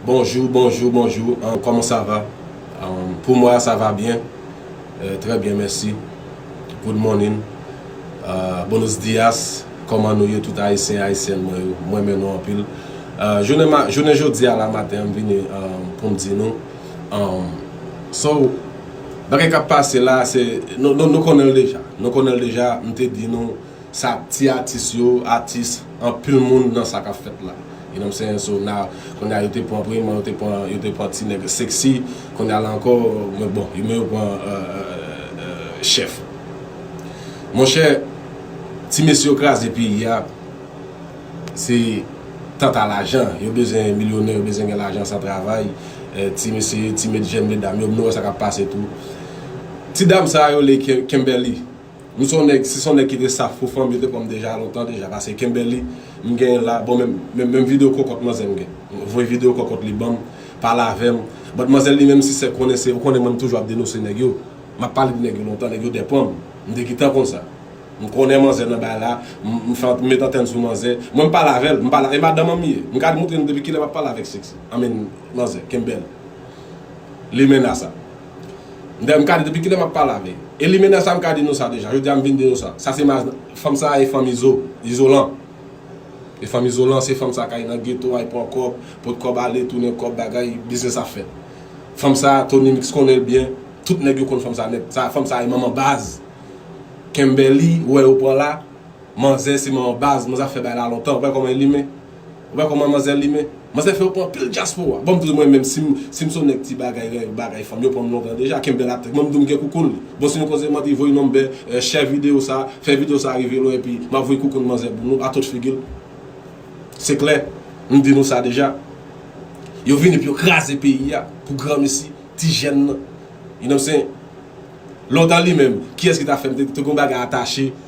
Bonjou bonjou bonjou kòman sa va pou mwa sa va byen trè byen mèsi good morning buenos dias kòman nou ye tout ayisyen ayisyèn mwen yo m renmen nou anpil jounen jodi a la maten m vini pou m di nou so bagay k ap pase la nou konnen l deja m te di nou Sa ti atis yo atis anpil moun nan sa kap fèt la you know what I'm saying so now kounya yo te pran premyèman yo te pran yo te pran ti nèg sexy kounya la ankò mwen bon yo men yo pran chèf monchè ti mesye yo kraze peyi a se tanta lajan yo bezwen milyonè yo bezwen gen lajan san travay ti mesye ti jèn medam yo nou wè sa kap pase tou ti dam sa yo rele Kimberly. Ou son nèg si son nèg ki te saf pou fanm yo te pranm deja lontan deja pase Kimberly m genyen la bon men men video kokot manzè m gen voye video kokot li banm pale avèm but manzè li menm si se konnen se ou konnen mwen m toujou ap denose nèg yo map pale de nèg yo lontan nèg yo depanm m te gitan konn sa m konnen manzè nan bay la m fè m met antèn sou manzè mwen m pale avèl m pale e madanm an m ye m ka moutre nou depi kilè map pale avèk sexy I mean manzè Kimberly limena sa. Dayè m ka di depi kilè map pale avè Elimena sa m ka di nou sa deja jodi a m vin di nou sa sa se madanm fanm sa e fanm izo izolan e fanm izolan se fanm sa kay nan geto a y pran kòb pot kòb ale tounen kòb bagay biznis ap fèt fanm sa Tony mix konnen l byen tout nèg yo konn fanm sa nèt sa fanm sa e manman baz Kemberlee ou wè yo pran la manzè se manman baz manzè ap fè bagay la lontan ou pa wè kòman Elime. Ou wè kòman manzè limen. Manzè fè yo pran pil dyaspora. Banm diw mwen menm sim sim son nèg ti bagay ren bagay fanm yo pranm lontan deja kenbel ak tèt mwen mdiw mgen koukoun li bon si nou kontinye mande voye number share video sa fè video sa rive lwen epi map voye koukoun manzè pou nou atòt figil se klè mdi nou sa deja yo vini pou yo kraze peyi a pou granmesi ti jèn nan you know what I'm saying lontan limenm kiyès ki ta fèm te gon bagay atache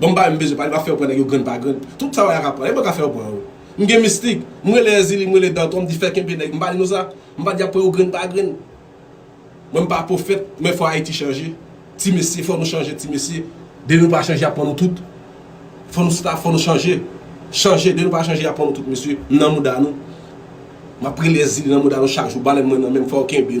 Banm bagay m bezwen pale m ap fè yo pran nèg yo grenn pa grenn tout sa w la ka pran e mwen ka fè yo pran yo m gen mistik m rele èzili m rele dantò m di fè kenbe nèg m pa di nou sa m pa di y ap pran yo grenn pa grenn mwen m pa pwofèt men fò ayiti chanje ti mesye fò nou chanje ti mesye. Dé nou pa chanje y ap pran nou tout fò nou sta fò nou chanje chanje dé nou pa chanje y ap pran nou tout mesye m nan mouda nou m ap rele èzili nan mouda nou chak jou balèn mwen nan menm fò w kenbe.